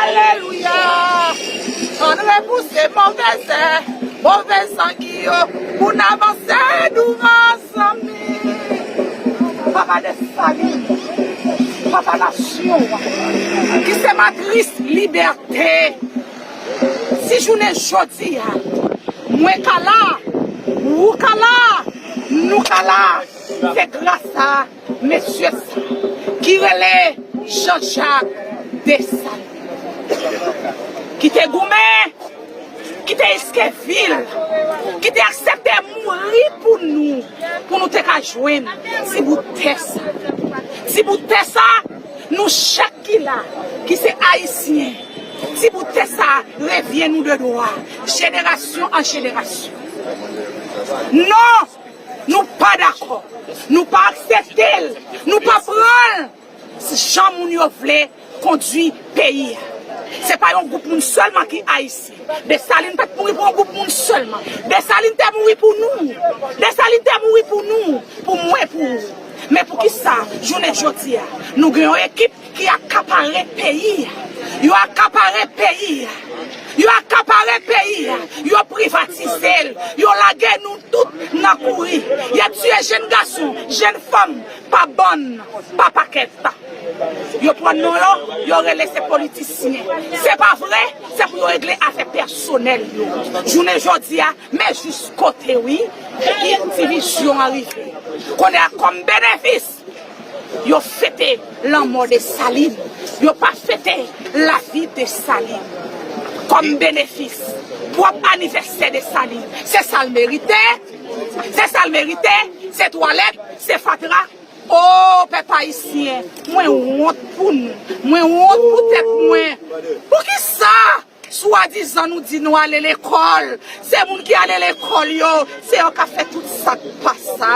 Alelouya Ann repouse move zè, move zangi yo pou n avanse douvan zanmi Papa Desalin Papa nasyon an ki se matris libète Si jounen jodi a mwen ka la, ou ka la, nou ka la se gras a. Mesyes ki rele Jean Jacques Dessalines ki te goumen, ki te iske vil, ki te aksepte mouri pou nou, pou nou te ka jwenn ti bout tè sa. Ti bout tè sa, nou chak ki la, ki se Ayisyen, ti bout tè sa revyen nou de dwa, jenerasyon an jenerasyon. Non! Nou pa dakò. Nou pa aksepte l. Nou pa pran l jan moun yo vle kondwi peyi a. Se pa yon gwoup moun sèlman ki Ayisyen. Desalin pa t mouri pou yon gwoup moun sèlman. Desalin te mouri pou nou. Desalin te mouri pou nou, pou mwen, pou ou. Men poukisa jounen jodi a nou gen yon ekip. Ki akapare peyi a. Yo akapare peyi a. Yo akapare peyi a. Yo privatize l. Yo lage nou tout nan kouri. Y ap tiye jenn gason, jenn fanm pa bann, pa pakèt. Yo pran non yo, yo rele se politisyen. Se pa vre, se pou yo regle afè pèsonèl yo. Jounen jodi a, men jiskote wi Indivizyon an rive. Kounye a kòm benefis. Yo fete lanmò Desalin, yo pa fete lavi Desalin. Kòm benefis, pwòp anivèsè Desalin, se sa l merite, se sa l merite, se twalèt, se fatra. O, pèp ayisyen, mwen wont pou nou, mwen wont pou tèt mwen. Poukisa? Swadizan nou di nou ale lekòl, se moun ki ale lekòl yo, se yo kap fè tout sak pa sa.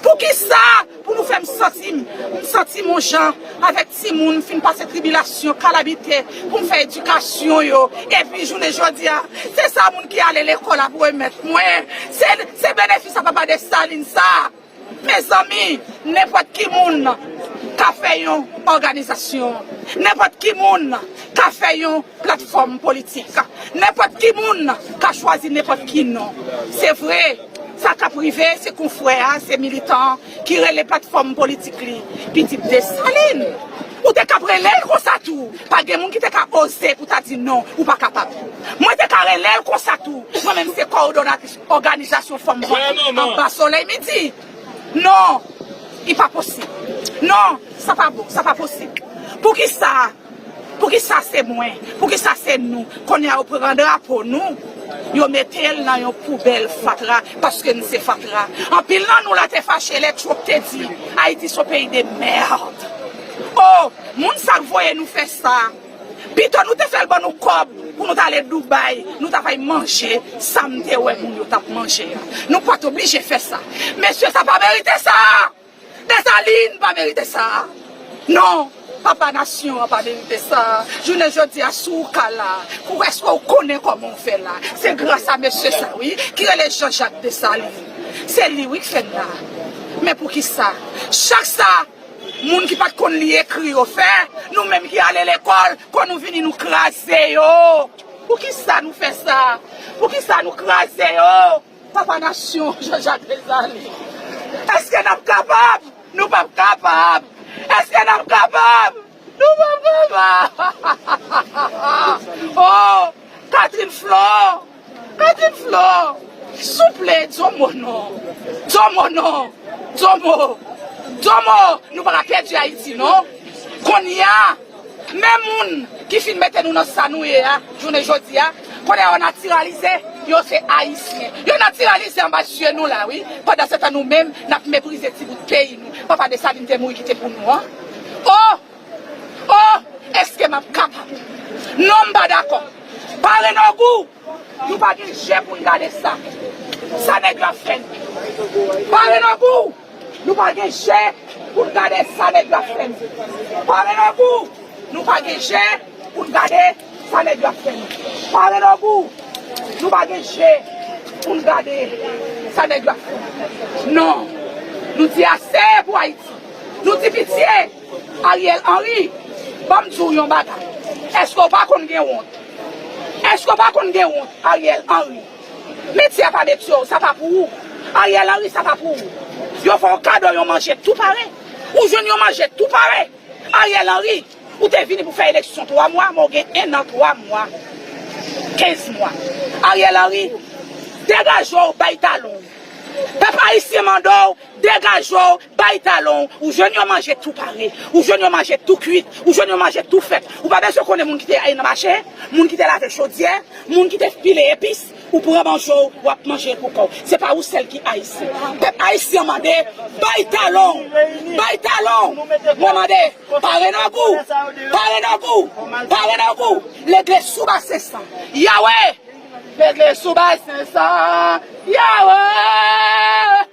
Poukisa pou nou fèm santi m santi m on jan avèk timoun m fin pase tribilasyon, kalabite pou m fè edikasyon yo epi jounen jodi a se sa moun ki ale lekòl ap remèt mwen, se benefis a papa Dessalines sa. Mezanmi nenpòt ki moun ka fè yon òganizasyon, nenpòt ki moun ka fè yon platfòm politik, nenpòt ki moun ka chwazi nenpòt ki non. Se vre, sa k ap rive se konfrè a, se militan an ki rele platfòm politik li pitit Desalin. Ou te kab rele l konsa tou, pa gen moun ki te ka oze pou ta di non ou pa kapab. Mwen te ka rele l konsa tou, mwen menm se kowodonatris. Òganizasyon fanm vanyan anba solèy midi. Non! Li pa posib. Non! Sa pa bon, sa pa posib. Poukisa? Poukisa se mwen? Poukisa se nou? Kounye a yo pran drapo nou, yo mete l nan yon poubèl fatra paske nou se fatra. Anpil nan nou la te fache lè Trump te di Ayiti son peyi de merde. O! Moun sa k voye nou fè sa. Pito nou te fèl ban nou kòb pou nou tale Dubai nou tap al manje sam te wè moun yo tap manje a nou pat oblije fè sa mesye sa pa merite sa Dessalines pa merite sa non papa nasyon an pa merite sa jounen jodi a si w ka la kou eske w konnen kòman w fè la se gras a mesye sa wi ki rele Jean Jacques Dessalines se li wi k fè n la men poukisa chak sa Moun ki pat konn li ekri yo fè, nou menm ki ale lekòl, kò nou vini nou kraze yo. Poukisa nou fè sa? Poukisa nou kraze yo? Papa nasyon, Jean Jacques Dessalines. Eske nap kapab? Nou pap kapab! Eske nap kapab? Nou pa papa hahahaha oh Catherine Flore Catherine Flore souple di yon mo non di yon mo non di yon mo di yon mo nou pa ka pèdi Ayiti non konnya men moun ki fin mete nou nan sa nou ye a jounen jodi a konnya yo natiralize yo se Ayisyen yo natiralize anba zye nou la wi pandansetan nou menm n ap meprize ti bout peyi nou papa Dessalines te mouri kite pou nou an. Oh! Oh! Eske map kapab? Non m pa dakò. Pare nou gou! Nou pa gen je pou n gade sa. Sa nèg yo ap fè n. Pare nou gou! Nou pa gen je pou n gade sa nèg yo ap fè n. Pare nou gou! Nou pa gen je pou n gade sa nèg yo ap fè n. Pare nou gou! Nou pa gen je pou n gade sa nèg yo ap fè n. Non! Nou di ase pou Ayiti. Nou di pitye! Ariel Henry, ban m di w yon bagay, èske w pa konn gen wont? Èske w pa konn gen wont, Ariel Henry? Metye a pa metye w, sa pa pou ou. Ariel Henry, sa pa pou ou. Yo fè w kado yon manjèt tou pare. Ou jwenn yon manjèt tou pare. Ariel Henry, ou te vini pou fè eleksyon 3 mwa, men w gen 1 an 3 mwa, 15 mwa. Ariel Henry, degaje w, bay talon w. Pèp ayisyen mande w, degaje w. Bay talon w, ou jwenn yon manje tou pare, ou jwenn yon manje tou kuit, ou jwenn yon manje tou fèt. Ou pa bezwen konnen moun ki te ale nan mache, moun ki te lave chodyè, moun ki te pile epis. Ou pran banjo w, w ap manje l pou kò w. Se pa ou sèl ki Ayisyen. Pèp Ayisyen an mande, Bay talon w! Bay talon w! Mwen mande, Pare nòg ou! Pare nòg ou! Pare nòg ou! Legle sou basen san, Yawee! Legle sou basen san, Yawee!